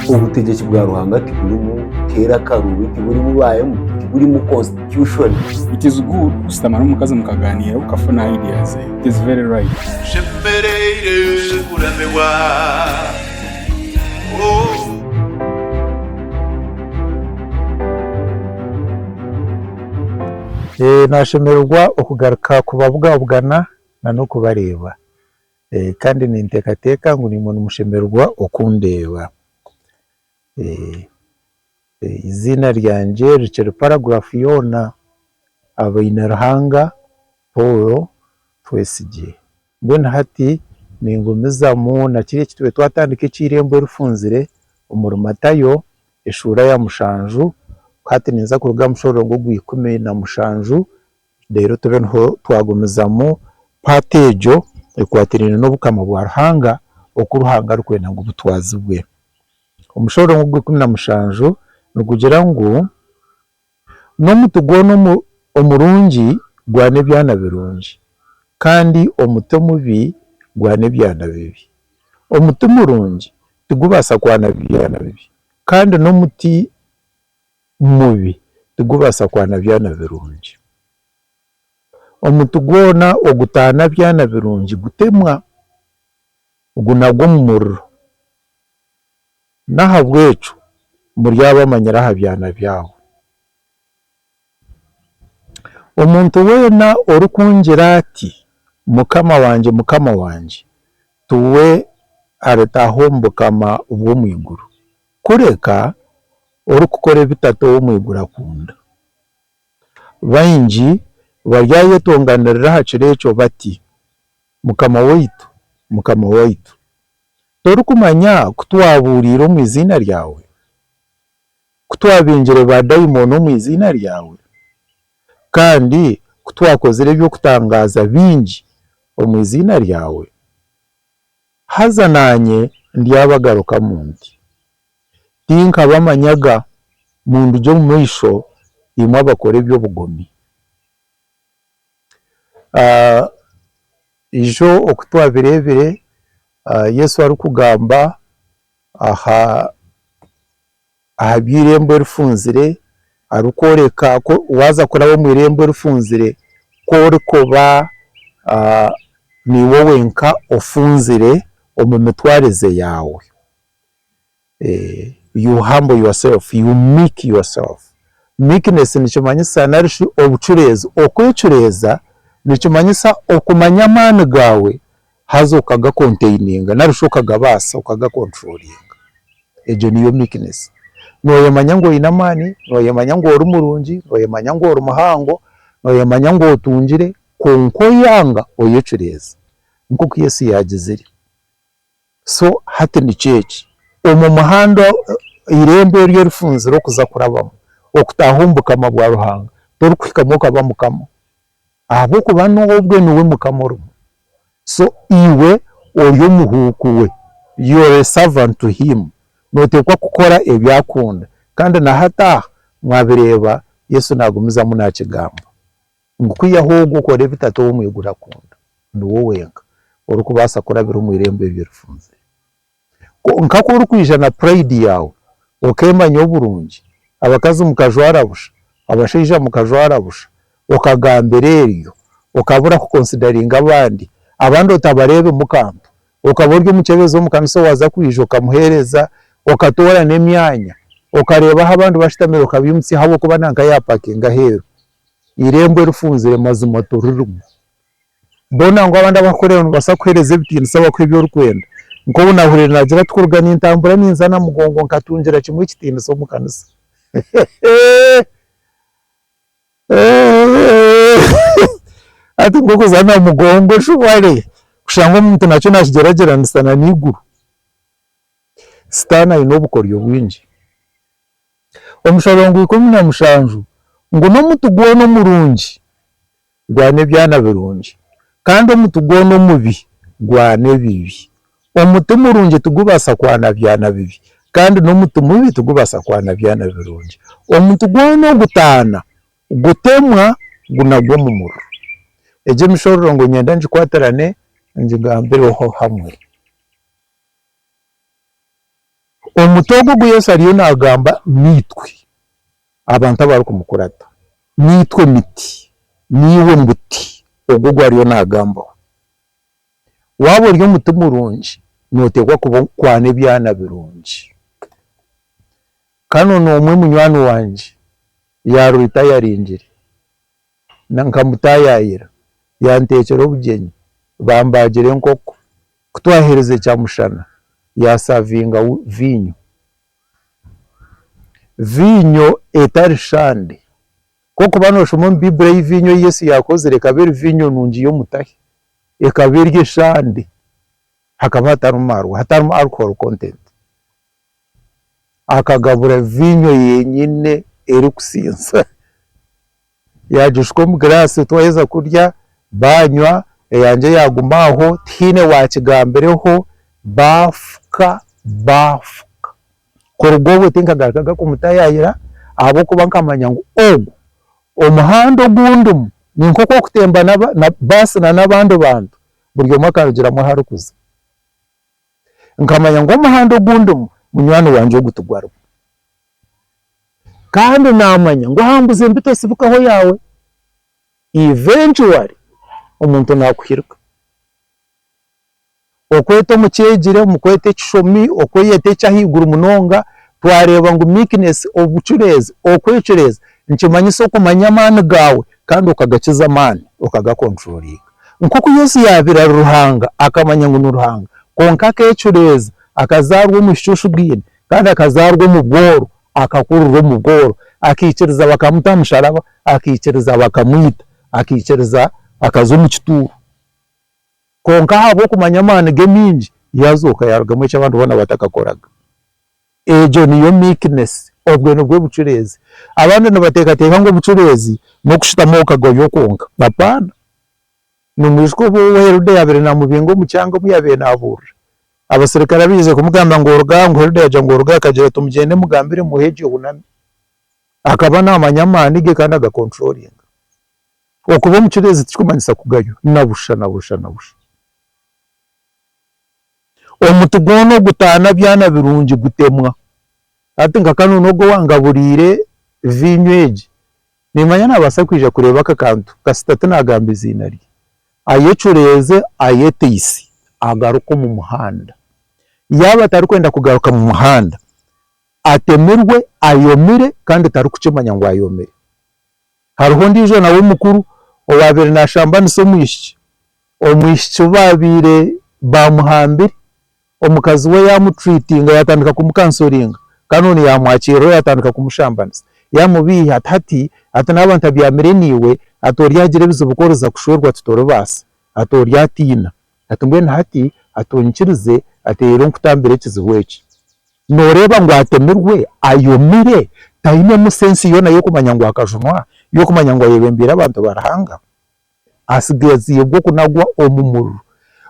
Obutegyeki bwa Ruhanga tiburimu keera akaruubi, tiburimu baayemu, tiburimu constitution. It is good kushutama n'omukazi mukagaaniira okafuna idea ze. It is very right. Nshemereire kuramirwa oh. Nashemererwa okugaruka kubabwabwana na n'okubareeba. kandi ninteekateeka ngu nimwo nimushemererwa okundeeba. Eiziina ryangye rikiri paragurafu yoona, Habainiruhanga Paul Twesigye. Mbwenu hati ningumizamu na kiri eki tube twatandika eky'eirembo rifunzire omuri Matayo eshuura ya mushanju, ku hati ninza kuruga aha mushororongo ogw'eikumi na mushanju Reero tube niho twagumizamu paati egyo ekwatiraine n'Obukama bwa Ruhanga oku Ruhanga arikwenda ngu butwazibwe. Omushororongo ogw'ikumi na mushanju nigugira ngu, N'omuti gwona omurungi gwana ebyana birungi, kandi omuti omubi gwana ebyana bibi. Omuti murungi tigubaasa kwana byana bibi, kandi n'omuti mubi tigubaasa kwana byana birungi. Omuti gwona ogutaana byana birungi gutemwa, gunagwa omu muriro. N'ahabw'ekyo muryabamanyira aha byana byabo. Omuntu weena orikungira ati, Mukama wangye, Mukama wangye, tiwe aritaha omu bukama bw'omu iguru, Kureka orikukora ebi Tata ow'omu iguru akunda. Baingi baryayetonganirira aha kiro ekyo bati, Mukama waitu, Mukama waitu, torikumanya ku twabuuriire omu iziina ryawe, ku twabingire baadaimoni omu iziina ryawe, kandi ku twakozire eby'okutangaaza bingi omu iziina ryawe? Haza naanye ndyabagarukamu nti, Tinkabamanyaga, mundugye omu maisho, imwe abakora eby'obugomi. Eijo oku twabireebire Yesu arikugamba aha aha by'eirembo erifunzire, arikworeka ku waaza kuraba omu irembo erifunzire, ku orikuba niiwe wenka ofunzire omu mitwarize yaawe, you humble yourself, you meek yourself, meekness nikimanyisa nari shi obucureezi, okwecureeza nikimanyisa okumanya amaani gaawe haza okagakonteininga nari shi okagabaasa okagakonturoringa, egyo niyo meekness, noyemanya ngu oyine amaani, noyemanya ngu ori murungi, noyemanya ngu ori muhango, noyemanya ngu otungire kwonka oyanga oyecureeza nk'oku Yesu yaagizire, so hati nikyo eki, omu muhanda, eirembo eryo orifunzire okuza kurabamu okutaaha omu bukama bwa Ruhanga torikuhikamu okaba mukama. ahabw'okuba n'obwe niwe mukama orimu, so iwe ori omuhuuku we, you are a servant to him, nooteekwa kukora ebi akunda, kandi na hati aha mwabireeba Yesu naagumizamu naakigamba ngu kwihaho ogwo okore ebi Tata ow'omu iguru akunda, niwe wenka orikubaasa kurabira omu irembo eryo rifunzire. Kwonka ku orikwija na purayidi yaawe, okeemanya oburungi, abakazi mukajwara busha, abashaija mukajwara busha, okagambira eryo, okabura kukonsidaringa abandi, abandi otabareebimu kantu, okaba ori omukyebezi omu kanisa owaaza kwija okamuheereza, okatoora n'emyanya, okareeba ahu abandi bashutamire okabaimutsya ahabw'okuba nanka yaapakinga aheeru, eirembo erifunzire mazima toririmu. Boona ngu abandi abakukureeba noobaasa kukuheereza ebitiinisa bakuhe ebi orikwenda. Nk'obu naahuriire naagira ati, Kuruga nintambura ninza Namugongo nkatungira kimwe ekitiinisa omu kanisa. Hati nk'oku kuza Namugongo eshobare kushanga omuntu nakyo naakigyeragyeranisa na n'eiguru. Sitaane aine obukoryo bwingi. Omusharo gwa ikumi na mushanju ngu n'omuti gwona omurungi. Gwana ebyana birungi, kandi omuti gwona omubi gwana ebibi. Omuti murungi tigubaasa kwana byana bibi, kandi n'omuti mubi tigubaasa kwana byana birungi. Omuti gwona ogutaana gutemwa gunagwa omu muriro. Egyo emishororongo niinyenda ngikwatirane ngigambireho hamwe. Omuti ogu ogu Yesu ariyo naagamba niitwe. abantu abarikumukurata, naitwe miti, naiwe muti ogwo ogu ariyo naagambaho. Waaba ori omuti murungi, nooteekwa kuba kwana ebyana birungi. Kare noona omwe munywani wangye yaarora oti ayaringire, nkamutaayaayira, yanteekyera obugyenyi, bambaagira enkoko, ku twaheerize kyamushana yaasavinga viinyo. viinyo etari shande. Kwokuba noshoma omu Baiburi ei viinyo ei Yesu yaakozire ekaba eri viinyo nungi y'omutahi, ekaba eri eshande, hakaba hatarimu maarwa, hatarimu alcohol content. Akagabura viinyo yenyine erikusiisa. Yaagishuka omu giraasi twaheza kurya baanywa, eyangye yaaguma aho tihaine waakigambireho baafuka baafuka. Kuruga obwo tinkagarukaga kumutayaayira ahabw'okuba nkamanya ngu ogu omuhanda ogu ndimu ni nk'oku orikutemba baasi n'abandi bantu buri omwe akarugiramu ahu arikuza. Nkamanya ngu omuhanda ogu ndimu munywani wangye ogu tigwarimu. Kandi namanya ngu aha mbuzi embi tosibukaho yaawe, eventually omuntu nakuhirika. Okwete omukyegire, omukwete ekishomi, okweyeta ekyahaiguru munonga, twareeba ngu meekness, obucureezi, okwecureeza nikimanyisa okumanya amaani gaawe kandi okagakiza amaani okaga controllinga. Nkoku Yesu yaabaire ari Ruhanga akamanya ngu ni Ruhanga kwonka akecureeza akazaarwa omu bishushu biine kandi akazaarwa omu bworo, akakurirwa omu bworo, akaikiriza bakamuta aha musharaba, akaikiriza bakamwita, akaikiriza akaza omu kituuro, kwonka ahabw'okumanya amaani ge maingi, yaazooka yaarugamu eki abantu boona batakakoraga. Egyo niyo meekness, obwe nibwo bucureezi. Abandi nibateekateeka ngu obucureezi n'okushutama okagoywa kwonka, apaana. Nimwijuka obu owa Herode yabire namubinga omu kyanga omu yabire naburira? Abaserikare abize kumugamba ngu oruga aha ngu Herode yagira ngu oruga aha akagira ati mugyende mugambire muhe egyo ehunami. Akaba namanya amani ge kandi aga controllinga. Okuba omucureezi tikikumanyisa kugaywa, na busha na busha na busha. Omuti gwona ogutana byana birungi gutemwa. Hati nka kanu n'ogu owangaburiire viinyo egi, niimanya naabaasa kwija kureeba aka kantu kasita tinaagamba eiziina rye, ayecureeze, ayeteise, agaruke omu muhanda. Yaaba atarikwenda kugaruka mu muhanda, atemirwe ayomire kandi tarikukimanya ngu ayomire. Hariho ondiijo nawe mukuru owaabaire naashambanisa omwishiki, omwishiki obaabaire baamuhambire. omukazi we yaamuturiitinga, yaatandika kumukansoringa, kandi onu yaamwakiriraho yaatandika kumushambaniza. Yaamubeiha ati, Hati ati naaba ntabyamire naiwe, ati oryagira ebizibu ku oriza kushwerwa ati toribaasa, ati oryatiina. Ati mbwenu hati ati oinyikirize ati reero nkutambire ekizibu eki. Nooreeba ngu atemirwe, ayomire, tainemu sensi yoona y'okumanya ngu akajunwa, y'okumanya ngu ayebembeire abantu ba Ruhanga? asigaziibwe okunagwa omu muriro.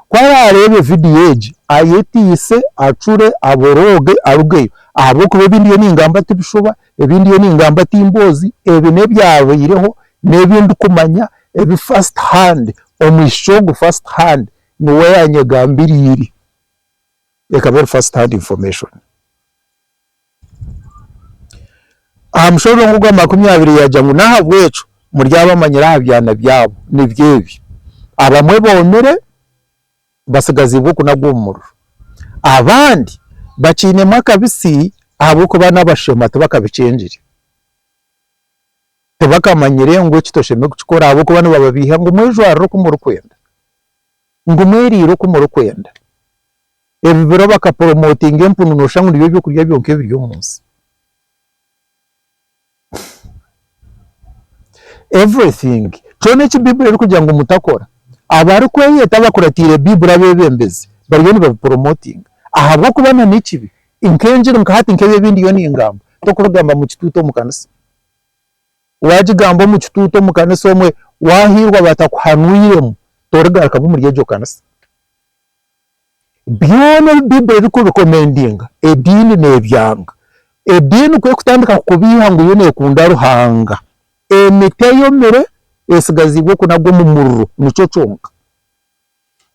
Ku araareebe vidiyo egi, ayetiise, acure, aborooge arugeyo. Ahabw'okuba ebi ndiyo ningamba ti bishuba, ebi ndiyo ningamba ti mboozi, ebi n'ebyabaireho, n'ebi ndikumanya ebi first hand. Omwishiki ogu first hand niwe yaanyegambiriire. Ekaba eri first hand information. Aha mushozi ogwo ogwa makumi abiri yaagira ngu, N'ahabw'ekyo muryabamanyira aha byana byabo, nibyo ebi, abamwe boomire batsigaziibwe okunagwa omu muriro, abandi bakiinemu akabitsi ahabw'okuba n'abashema tibakabikyengire, tibakamanyire ngu eki toshemereire kukikora ahabw'okuba nibababeiha ngu mwejwarire oku murikwenda, ngu mweriire oku murikwenda. Ebi biro baka promotinga empunu noshusha ngu nibyo byokurya byonka ebiri omu nsi. Everything, kyona eki Bible erikugira ngu mutakora, abarikweyeta abakuratiire Bible abebembezi bariyo nibabi promotinga ahabw'okuba na n'ekibi nk'engiri nka hati nk'ebi ebi ndiyo ningamba tokubigamba mu kituutu omu kanisa. Wagigamba omu kituutu omu kanisa omwe wahiirwa batakuhanwiremu torigarukamu omuri egyo kanisa. Byona ebi Baibuli erikurekomendinga, ediini nebyanga. Ediini ku ekutandika kukubiiha ngu yo nekunda Ruhanga, emiti eyomire esigaziibwe kunagwa omu muriro, nikyo kyonka.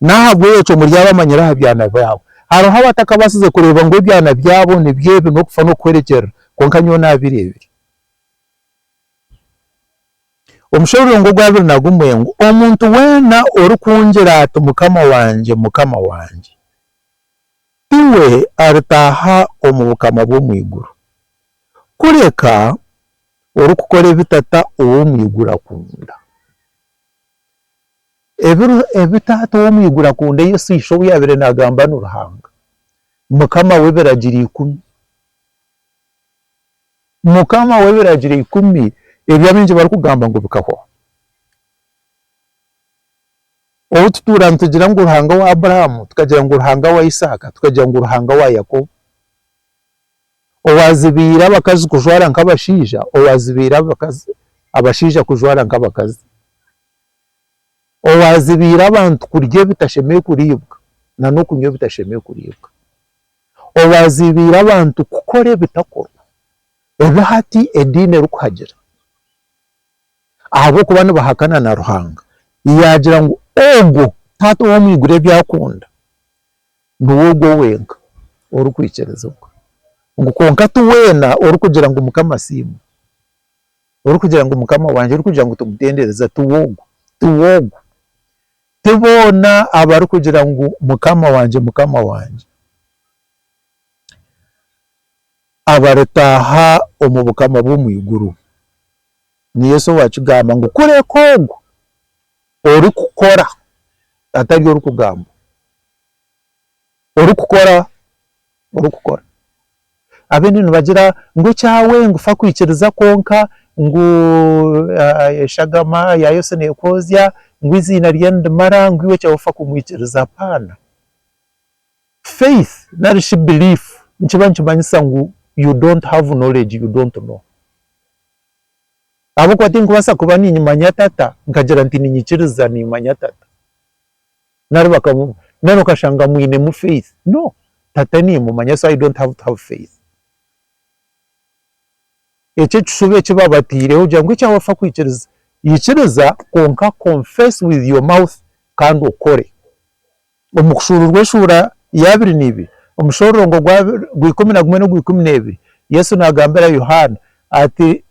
Nahabwekyo muri abamanyire aha byana byabo. Hariho abatakabasize kureeba ngu ebyana byabo nibyo ebi, nokufa nokuhwerekyerera, kwonka nyowe nabireebire. Omushororongo ogwa abiri na gumwe ngu, Omuntu weena orikungira ati, Mukama wangye, Mukama wangye, tiwe aritaaha omu bukama bw'omu iguru, kureka orikukora ebi Tata ow'omu iguru akunda. Ebi ebi Tata ow'omu iguru akunda, Yesu Ishe ou yaabaire naagamba ni Ruhanga, Mukama w'ebiragiro ikumi. Mukama w'Ebiragiro Ikumi ebi abaingi barikugamba ngu bikahwaho. Obu tutuura nitugira ngu Ruhanga wa Abrahamu, tukagira ngu Ruhanga wa Isaaka, tukagira ngu Ruhanga wa Yakobo, owaazibiire abakazi kujwara nk'abashaija, owaazibiire abakazi, abashaija kujwara nk'abakazi, owaazibiire abantu kurya ebitashemereire kuriibwa nan'okunywa ebitashemereire kuriibwa. owaaziibiire abantu kukora ebitakorwa, ebi hati ediini erikuhagira, ahabw'okuba nibahakana na Ruhanga, yaagira ngu ogwo Taata ow'omu iguru ebi akunda niwe ogwo wenka orikwikirizibwa, ngu kwonka ti weena orikugira ngu Mukama asiimwe, orikugira ngu Mukama wangye, orikugira ngu tugutendereze, tiwe ogwo, tiwe ogwo. Ti boona abarikugira ngu, Mukama wangye, Mukama wangye, abaritaaha omu bukama bw'omu iguru. Ni Yesu owakigamba ngu, kureka ogwo orikukora atari orikugambwa. orikukora, orikukora. Abene nibagira ngu ekyawe ngu fa kwikiriza kwonka ngu eshagama ya Yesu nekoozya, ngu eiziina rye nirimara, ngu iwe ekyawe fa kumwikiriza. Apaana. Faith nari shi belief nikiba nikimanyisa ngu you don't have knowledge, you don't know. Ahabw'okuba tinkubaasa kuba niimanya Tata nkagira nti niinyikiriza niimanya Tata. nari bakamu nari okashanga mwinemu faith no tata nimumanya so I don't have to have faith ekyo ekishuba eki babateireho kugira ngu ekya wafa kwikiriza ikiriza kwonka confess with your mouth kandi okore omu kushuruurwa eshuura ya abiri neibiri omushorongo gwa gwa ikumi na gumwe no gwa ikumi nebiri Yesu nagambira Yohana ati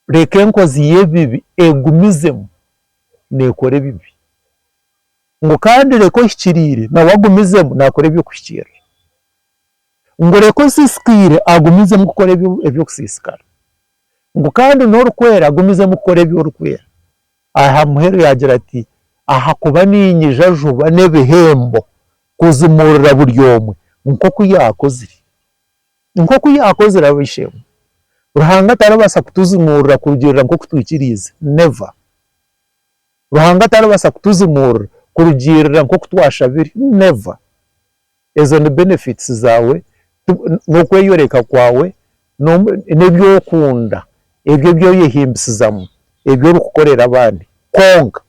reka enkozi yebibi egumizemu nekora ebibi. ngu kandi reka ohikiriire nawe agumizemu naakora eby'okuhikiirira, ngu reka osiisikaire agumizemu kukora eby'okusiisikara, ngu kandi n'orikwera agumizemu kukora ebi orikwera. Aha muheru yaagira ati, Ahakuba niinyija juba n'ebihembo kuzimuurira buri omwe nk'oku yaakozire. Nk'oku yaakozire ab'eishe-emwe. Ruhanga tarabaasa kutuzimuurira kurugiirira nk'oku twikiriize. Never. Ruhanga taribaasa kutuzimuurira kurugiirira nk'oku twashabire. Never. Ezo ni benefits zaawe, n'okweyoreka kwaawe, n'ebi orikunda, ebyo ebi oyehimbisizamu, ebi orikukorera abandi. Kwonka,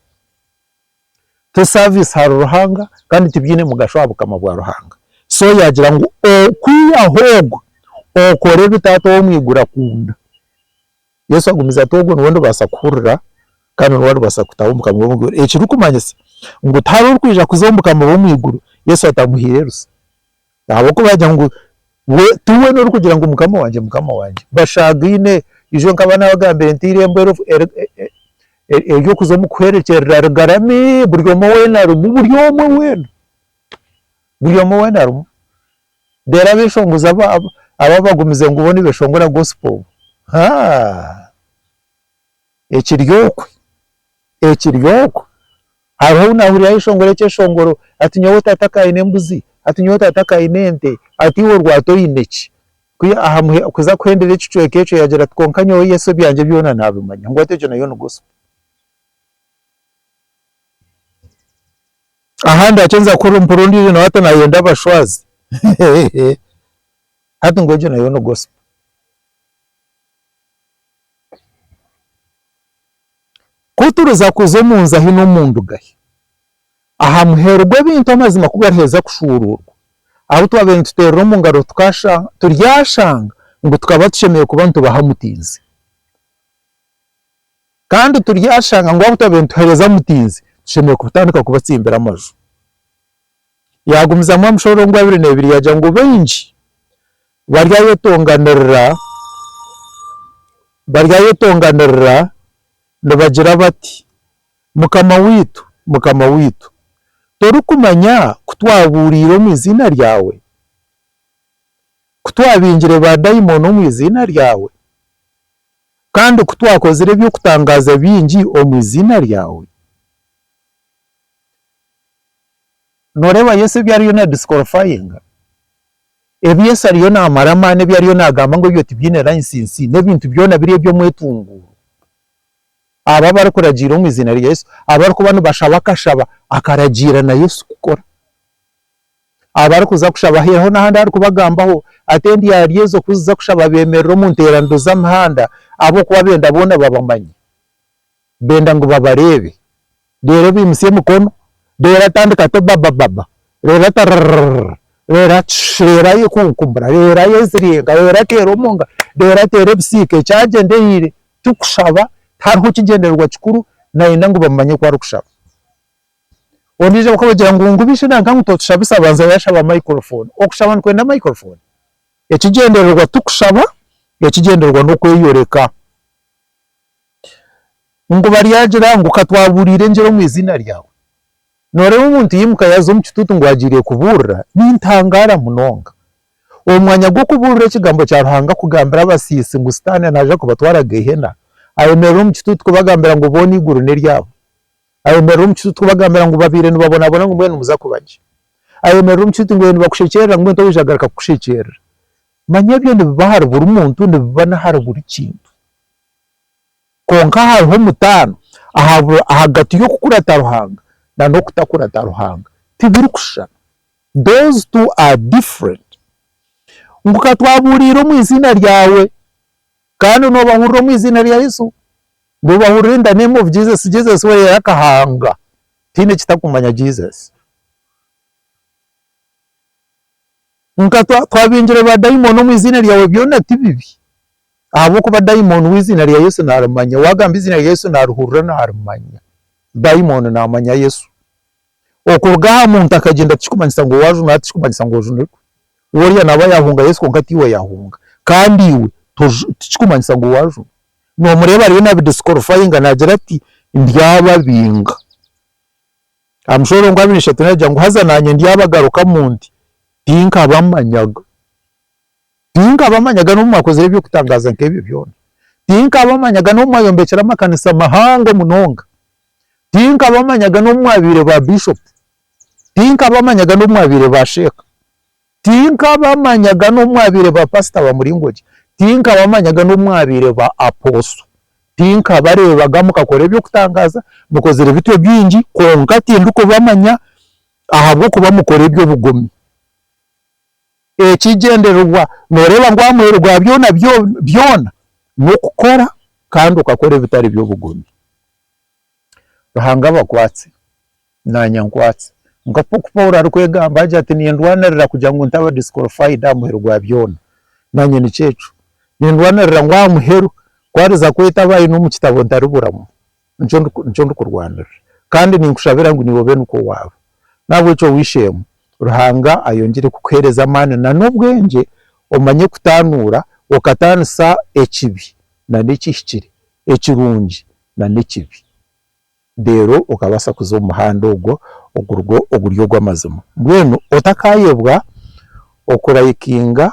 to service ahari Ruhanga kandi tibiine mugasho aha bukama bwa Ruhanga. So yaagira ngu okwihaho ogwe, okore ebi Taata ow'omu iguru akunda. Yesu agumize ati, Ogwo niwe ndibaasa kuhurira kandi niwe aribaasa kutaha omu Bukama bw'omu iguru. Ekirikumanyisa ngu tihariho orikwija kuza omu Bukama bw'omu iguru Yesu atamuhaire rusa. Ahabw'okuba yaagira ngu we ti we n'orikugira ngu Mukama wangye, Mukama wangye. Bashagaine, ijo nkaba naabagambire nti eirembo ery'okuza omu kuhwerekyerera rigarami, buri omwe weena arimu, buri omwe weena, buri omwe weena arimu. Reero abeshongozi abo ababagumize ngu bo nibeshongora gospel haa ekiryokwe ekiryokwe hariho ou nahurira ayeshongora ekyeshongoro ati nyowe taata ka aine embuzi ati nyowe taata ka aine ente ati iwe orwata oine ki ku ahamuhe kuza kuhendera ekicweka ekyo yagira ati kwonka nyowe Yesu ebyangye byona nabimanya ngu ati egyo nayo ni gospel. Aha ndakyenza kukora mpura ondijo nawe ati nayenda abashwazi hati ngu egyo nayo ni gospel. Ku turiza kuza omu nzu ahi n'omu ndugahi, aha muheru gw'ebintu amazima ku gariheza kushuuruurwa, abu twabaire nituteerera omu ngaro tukasha turyashanga ngu tukaba tushemereire kuba nitubaha mutiinzi. Kandi turyashanga ngu ahabw'okuba nibaheereza Mutinzi, tushemereire kutandika kubatsimbira amaju. Yaagumizamu aha mushororongo gwa abiri n'ebiri yaagira ngu baingi baryayetonganirira baryayetonganirira nibagira bati, Mukama waitu, Mukama waitu, torikumanya ku twabuuriire omu iziina ryawe, ku twabingire baadaimoni omu iziina ryawe? kandi ku twakozire eby'okutangaaza bingi omu iziina ryawe? Nooreeba Yesu ebi ariyo naadisikorofayinga? Ebi Yesu ariyo naamara amaani, ebi ariyo naagamba ngu ebyo tibiine layisinsi, n'ebintu byona biri eby'omwetunguuro? Abo abarikuragiira omu iziina rya Yesu, abarikuba nibashaba akashaba akaragiira na Yesu kukora. abo arikuza kushaba aheereho n'ahandi aharikubagambaho ati, Endyarya ezo ku ziza kushaba beemerera omu nteeraniro z'amihanda, ahabw'okuba benda boona babamanye. Benda ngu babareebe. Reero baimutsya emikono, reero atandika ati, Obabababa, reero ati, Rrrrrrr, reero ati, Shi, reero ayekunkumura, reero ayeziringa, reero ateera omu ngaro, reero ateera ebisiika. Ekyagyendereire, tikushaba, tihariho kigyendererwa kikuru, naayenda ngu bamanye oku arikushaba. Ondiijo bakamugira ngu ngu beijo nanka ngu totushabisa abanza yashaba microphone. Okushaba nikwenda microphone? Ekigyendererwa tikushaba, ekigyendererwa n'okweyoreka. Ngu baryagira ngu katwabuuriire engyero omu eiziina ryawe. Nooreeba omuntu yaimuka yaaza omu kituutu ngu agiire kubuurira? Nintangaara munonga. Omu mwanya gw'okubuurira ekigambo kya Ruhanga kugambira abasiisi ngu sitaane naaza kubatwara Geihena, ayemerera omu kituutu kubagambira ngu boona eiguru n'eryabo. Ayemerera omu kituuti kubagambira ngu babaire nibabonabona ngu mbwenu nimuza kuba gye. Ayemerera omu kituuti ngu nibakushekyerera ngu oija kugaruka kukushekyerera. Manya ebyo nibiba ahari buri muntu, nibiba n'ahari buri kintu. Kwonka hariho omutaano ahagati y'okukurata Ruhanga n'okutakurata Ruhanga. Tibirikushushana. Those two are different. Ngu ka twabuuriire omu iziina ryawe. Kandi nobahurira omu eiziina rya Yesu, nobahurira in the name of Jesus, Jesus we yari akahanga tihaine ekitakumanya Jesus. Nka twabingire ba dayimoni omu eiziina ryawe byona tibibi ahabwokuba dayimoni weiziina rya Yesu narimanya, wagamba eiziina rya Yesu narihurira narimanya, dayimoni namanya Yesu. Okuruga aha muntu akagyenda tikikumanyisa ngu waajunire ati tikikumanyisa ngu ojunire kwe. Woriya naaba yaahunga Yesu kwonka tiiwe yahunga kandi iwe toju tikikumanyisa ngu waajuna. Noomureeba ariyo naabidisikwarifayinga naagira ati ndyababinga. Aha mushoro ogwa abiri ishatu naagira ngu haza naanye ndyabagarukamu nti tinkabamanyaga. Tinkabamanyaga n'obu mwakozire eby'okutangaaza nk'ebyo byona. Tinkabamanyaga n'obu mwayombekire amakanisa mahango munonga. Tinkabamanyaga n'obu mwabaire ba biishopu. Tinkabamanyaga n'obu mwabaire ba sheeka. Tinkabamanyaga n'obu mwabaire ba paasita ba muringo gye. Tinkabamanyaga n'obu mwabaire ba apooso. Tinkabareebaga mukakora eby'okutangaaza, mukozire bityo bingi, kwonka tindikubamanya ahabw'okuba mukora eby'obugomi. Ekigyendererwa nooreeba ngu aha muheru gwa byona byona n'okukora kandi okakora ebitari by'obugomi. Ruhanga abakwaatse naanye ankwaatse nk'oku Paulo arikwegamba agira ati nindwaanirira kugira ngu ntaba disqualified aha muheru gwa byona. Naanye nikyo ekyo nindwaanirira ngu aha muheru ku ariza kweta abaine omu kitabo ntariburamu. nikyo ndikurwanirira kandi ninkushabira ngu naiwe obe nikwo waaba. N'ahabw'ekyo weisheemu, Ruhanga ayongyere kukuheereza amaani na n'obwengye omanye kutaanuura okataanisa ekibi na n'ekihikire, ekirungi na n'ekibi, reero okabaasa kuza omu muhanda ogwo oguri ogw'amazima. Mbwenu otakaayebwa okurayikinga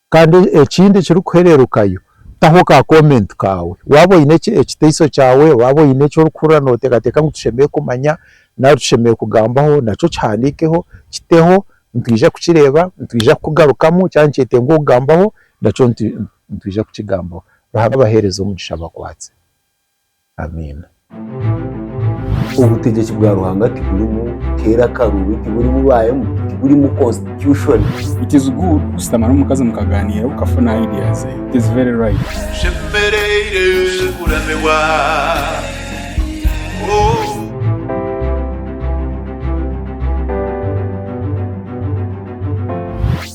Kandi ekindi ekirikuhererukayo, taho ka comment kaawe, waaba oine ekiteiso kyaawe, waaba oine eki orikuhurira noteekateeka ngu tushemereire kumanya nari tushemereire kugambaho, nakyo kihandiikeho, kiteho, nitwija kukireeba, nitwija kukugarukamu, kyaba nikyetenga okugambaho, nakyo nitwija kukigambaho. Ruhanga abaheereze omugisha abakwatse. Amiina. Obutegyeki bwa Ruhanga tiburimu keera karuubi, tiburimu ba MP, tiburimu constitution. It is good kushutama n'omukazi mukagaaniira okafuna idea ze. It is very right. Nshemereire kuramibwa oh.